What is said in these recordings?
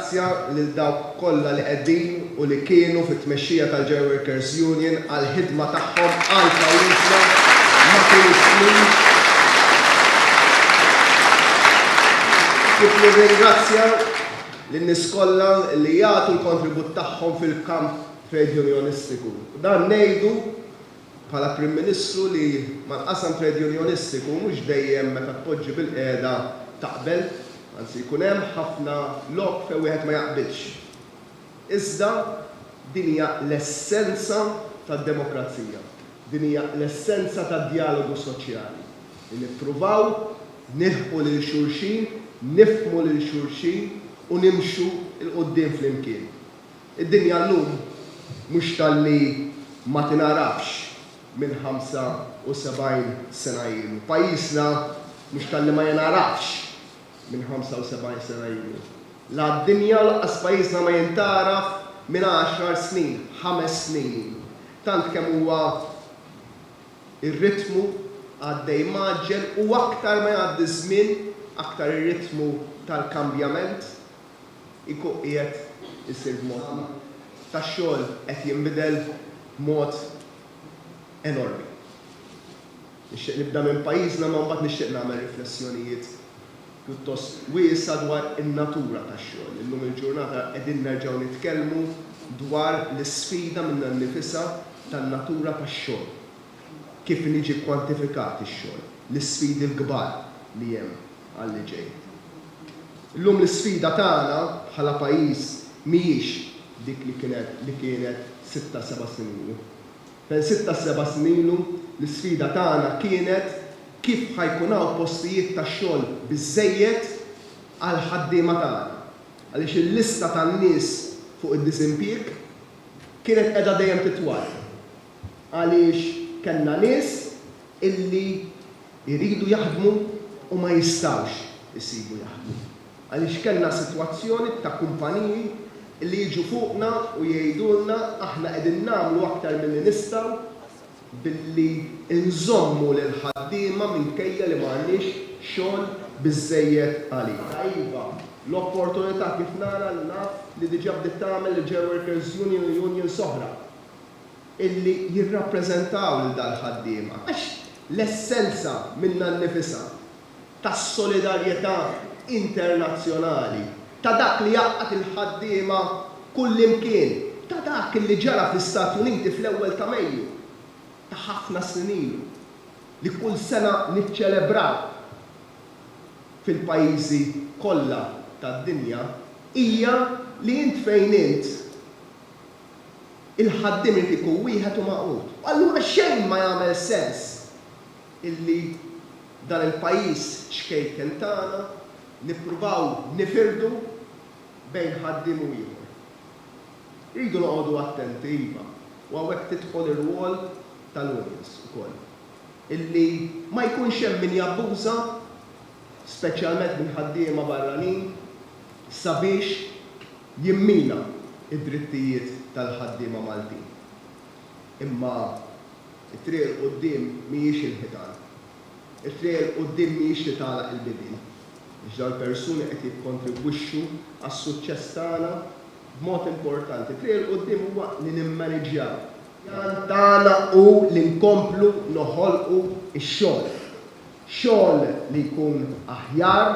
Nirringrazzja lil dawk kollha li qegħdin u li kienu fit-tmexxija tal-Joint Workers Union għall-ħidma tagħhom għal pajjiżna matul is-snin, kif nirringrazzja lin-nies kollha li jagħtu l-kontribut tagħhom fil-kamp trejdjunjonistiku. Dan ngħidu bħala Prim Ministru li mal-qasam trade unionistiku mhux dejjem meta tpoġġi bilqiegħda taqbel, anzi jkun hemm ħafna lok fejn wieħed ma jaqbilx. Iżda din hija l-essenza tad-demokrazija, din hija l-essenza tad-djalogu soċjali, li nippruvaw nilħqu lil xulxin, nifhmu lil xulxin u nimxu 'l quddiem flimkien. Id-dinja llum mhux talli ma tingħarafx minn 75 sena ilu. Pajjiżna mhux talli ma jingħarafx minn 75 sena ilu. La d-dinja u lanqas pajjiżna ma jintgħaraf minn għaxar snin, ħames snin ilu. Tant kemm huwa r-ritmu għaddej mgħaġġel u aktar ma jgħaddi ż-żmien aktar ir-ritmu tal-kambjament. jkun qiegħed isir b'modna tax-xogħol qed jinbidel b'mod enormi. Nixtieq nibda minn pajjiżna imma mbagħad nixtieq nagħmel riflessjonijiet pjuttost wiesgħa dwar in-natura tax-xogħol. Illum il-ġurnata qegħdin nerġgħu nitkellmu dwar l-isfida minnha nnifisha tan-natura tax-xogħol, kif inhi ġie kkwantifikat ix-xogħol, l-isfidi l-kbar li hemm. għalli ġej. Illum l-isfida tagħna bħala pajjiż mhijiex dik li kienet li kienet sitta seba' snin ilu. Fejn sitta seba' snin ilu l-isfida tagħna kienet kif ħa jkun hawn postijiet tax-xogħol biżżejjed għall-ħaddiema tagħna għaliex il-lista tan-nies fuq id-diżimpjieg kienet qiegħda dejjem titwal għaliex kellna nies illi Iridu jaħdmu u ma jistgħux isibu jaħdmu għaliex kellna sitwazzjoni ta' kumpaniji li jiġu fuqna u jgħidulna aħna qegħdin nagħmlu aktar milli nistgħu billi nżommu lill-ħaddiema minkejja li m'għandniex xogħol biżżejjed għalihom. Iva, l-opportunità kif nara li naf li diġà bdiet tagħmel il-Gerworkers Union u Unions oħra. illi jirrappreżentaw lil dal-ħaddiema, għax l-essenza minnha nnifisha tas-solidarjetà internazzjonali, ta' dak li jgħaqqad il-ħaddiema kullimkien, ta' dak illi ġara fl-Istati Uniti fl-ewwel ta' Mejju ta' ħafna snin ilu, li kull sena niċċelebraw fil-pajjiżi kollha tad-dinja, hija li int fejn int, il-ħaddiem irid ikun wieħed u magħqud. U allura xejn ma jagħmel sens illi dan il-pajjiż xkejken tagħna nippruvaw nifirdu bejn ħaddiem u ieħor. Irridu noqogħdu attenti, iva, u hawnhekk tidħol ir-rwol tal-unions ukoll, illi ma jkunx hemm min jabbuża, speċjalment minn ħaddiema barranin, sabiex jimmina d-drittijiet tal-ħaddiema Maltin. Imma t-triq 'il quddiem mhijiex il-ħitan. It-triq 'il quddiem mhijiex li tagħlaq il-bibien, għax dawn il-persuni qed jikkontribwixxu għas-suċċess tagħna b'mod importanti. It-triq 'il quddiem huwa li nimmaniġġjaw. L-għan tagħna hu li nkomplu noħolqu x-xogħol. xogħol li jkun aħjar,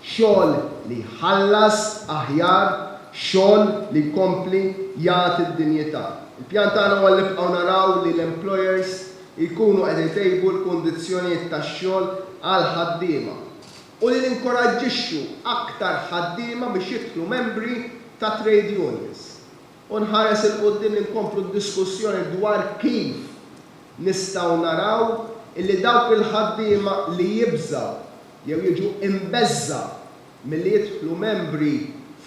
xogħol li jħallas aħjar, xogħol li jkompli jagħti d-dinjità. Il-pjan tagħna huwa li nibqgħu naraw li l-employers jkunu qed itejbu l-kundizzjonijiet tax-xogħol għall-ħaddiema u li ninkoraġġixxu aktar ħaddiema biex jidħlu membri ta' trade unions. u nħares 'il quddiem li nkomplu d-diskussjoni dwar kif nistgħu naraw illi dawk il-ħaddiema li jibżgħu jew jiġu imbeżżgħa milli jidħlu membri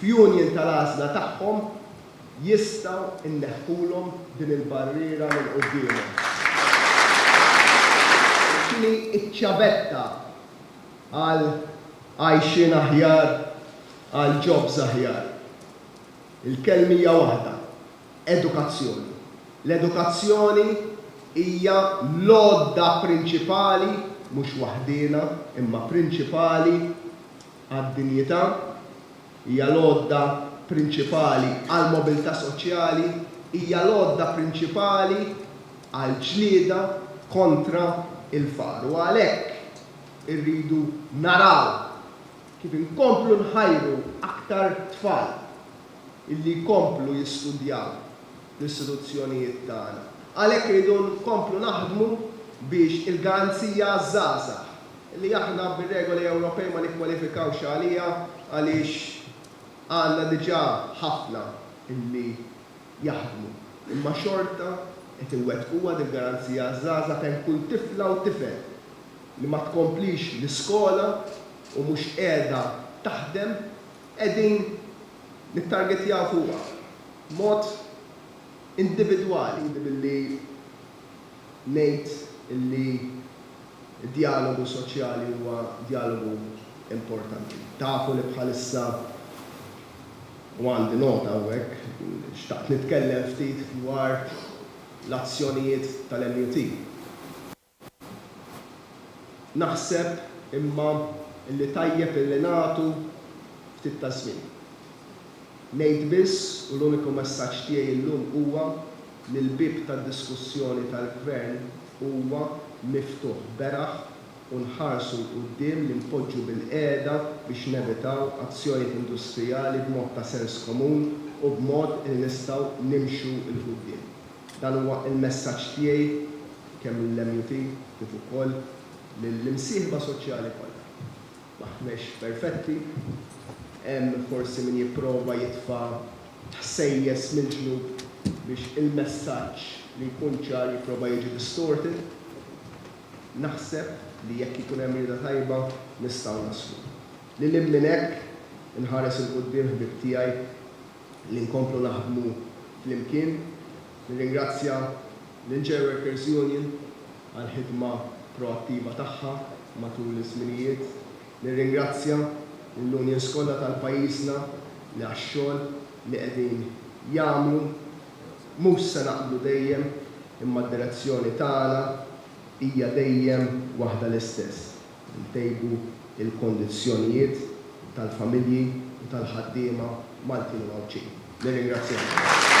f'union tal-għażla tagħhom jistgħu nneħħulhom din il-barriera minn quddiemhom. X'inhi ċ-ċavetta għal għajxien aħjar, għal jobs aħjar? Il-kelm hija waħda, edukazzjoni. L-edukazzjoni hija l-għodda prinċipali, mhux waħdiena, imma prinċipali, għad-dinjità, hija l-għodda prinċipali għall-mobilità soċjali, hija l-għodda prinċipali għall-ġlieda kontra l-faqar. U għalhekk irridu naraw Kif inkomplu nħajru aktar tfal illi jkomplu jistudjaw fl-istituzzjonijiet tagħna. Għalhekk irridu nkomplu naħdmu biex il-garanzija għaż-żgħażagħ, illi aħna bir-regoli Ewropej ma nikkwalifikawx għaliha għaliex għandna diġà ħafna illi jaħdmu, imma xorta qed inwettquha dil-garanzija għaż-żgħażagħ fejn kull tifla u tifel li ma tkomplix l-iskola, u mhux qiegħda taħdem qegħdin nittargetjaw fuqha b'mod individwali billi ngħid li d-djalogu soċjali huwa djalogu importanti. Tafu li bħalissa, u għandi nota hawnhekk, xtaqt nitkellem ftit dwar l-azzjonijiet tal-MUT. Naħseb, imma, illi tajjeb illi nagħtu ftit ta' żmien. Ngħid biss, u l-uniku messaġġ tiegħi llum huwa li l-bieb tad-diskussjoni tal-Gvern huwa miftuħ beraħ u nħarsu 'l quddiem li npoġġu bilqiegħda biex nevitaw azzjonijiet industrijali b'mod ta' sens komun u b'mod li nistgħu nimxu 'l quddiem. Dan huwa l-messaġġ tiegħi kemm lill-MUT kif ukoll lill-imsieħba soċjali kollha. M'aħnex perfetti, hemm forsi min jipprova jitfa' ħsejjes mill-ġnub biex il-messaġġ li jkun ċar jipprova jiġi distorted. Naħseb li jekk ikun hemm rieda tajba nistgħu naslu. Lil hinn minn hekk, inħares 'il quddiem ħbieb tiegħi li nkomplu naħdmu flimkien. Nirringrazzja lill-Chair Workers Union għall-ħidma proattiva tagħha matul iż-żminijiet. Nirringrazzja lill-unions kollha tal-pajjiżna li għax-xogħol li qegħdin jagħmlu. Mhux se naqblu dejjem, imma d-direzzjoni tagħna hija dejjem waħda l-istess. ntejbu l-kondizzjonijiet tal-familji u tal-ħaddiema Maltin u Għawdxin. Nirringrazzjakom.